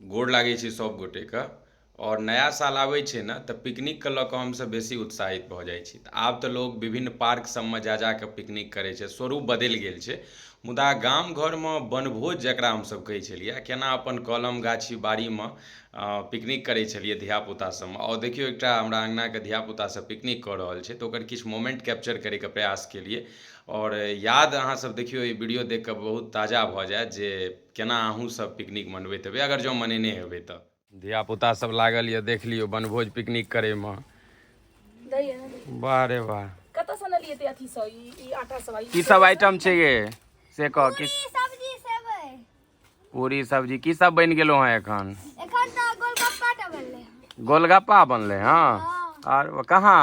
गोर लागै छी सभ गोटेके आओर नया साल आबै छै ने तऽ पिकनिकके लऽ कऽ हमसभ बेसी उत्साहित भऽ जाइ छी तऽ आब तऽ लोक विभिन्न पार्क सभमे जा जा कऽ पिकनिक करै छै स्वरूप बदलि गेल छै मुदा गाम घरमे वनभोज जकरा हमसभ कहै छलियै आ केना अपन कलम गाछी बाड़ीमे पिकनिक करै छलियै धिया पुता सभमे आओर देखियौ एकटा हमरा अङ्गनाके धिया पुता सभ पिकनिक कऽ रहल छै तऽ ओकर किछु मोमेन्ट कैप्चर करैके प्रयास केलियै आओर याद अहाँसभ देखियौ ई वीडियो देखि कऽ बहुत ताजा भऽ जायत जे केना अहूँ सब पिकनिक मनबैत हेबै अगर जँ मनेने हेबै तऽ धियापुता सब लागल यऽ देख लियौ बनभोज पिकनिक करैमे वाह रे वाह कतऽसँ ने लिए अथी सब ई आटा सब की सब आइटम छै गे से कह की सब्जी सेबै पूरी सब्जी की सब बनि गेलो हँ एखन एखन तऽ गोलगप्पा टा बनलै गोलगप्पा बनलै हँ आर कहाँ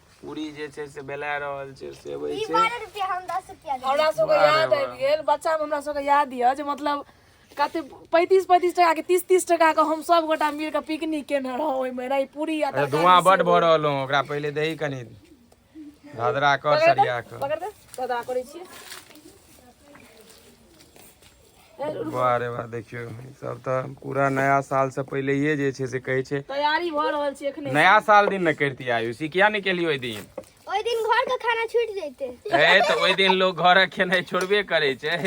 पूरी जे छै से बेला रहल छै सेबै ई छै बारह रुपया हम दस रुपया देब हमरा सबके वाह रे याद वाह। आबि गेल बच्चा मे हमरा सबके याद यऽ जे मतलब कते पैंतीस पैंतीस टका के तीस तीस टका के हम सब गोटा मिल के पिकनिक केने रहौ ओहिमे रही पूरी या अरे धुआं बड भऽ रहल हूँ ओकरा पहिले दही कनी धधरा कर सरिया कर पकड़ दे सदा करै छियै वाह रे वाह देखियो ई सब तऽ पूरा नया साल से पहिलेहे जे छै से कहै छै तैयारी भऽ रहल छै एखने नया साल दिन ने करती आयुष ई किया नहि केली ओहि दिन ओहि दिन घर के खाना छूट जैते ए तऽ ओहि दिन लोग घरक खेनाइ छोड़बे करै छै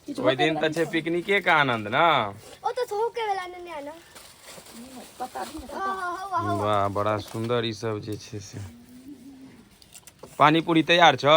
किछु ओहि दिन तऽ छै पिकनिके के आनंद ने ओ तो होके वाला नहीं आना पता भी नहीं। हाँ, हाँ, हाँ, वाह बड़ा सुंदर ई सब जे छै से पानी पूरी तैयार छौ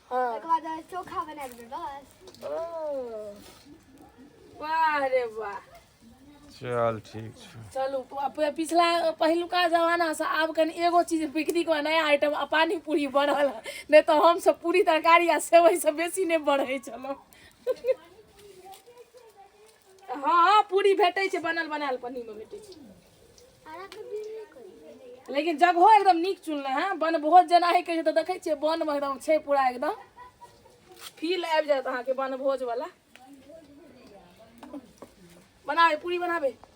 हाँ। एक बाद चोखा बना देबे बस ओ वाह रे वाह चल ठीक छै चलू प- पिछला पहिलुका जमाना से आब कनि एगो चीज पिकनिक में नया आइटम आ पानी पूरी बनल है। नहि तऽ हम सब पूरी तरकारी आ सेवई से बेसी नहि बढ़ै छलहुँ हँ पूरी भेटै छै बनल बनायल पन्नी में भेटै छै लेकिन जगहो एकदम नीक चुनले हैं बन बहुत जना है कहे तो देखे छे बन में एकदम छे पूरा एकदम फील आबि जात अहाँ के बन भोज वाला बनाबे पूरी बनाबे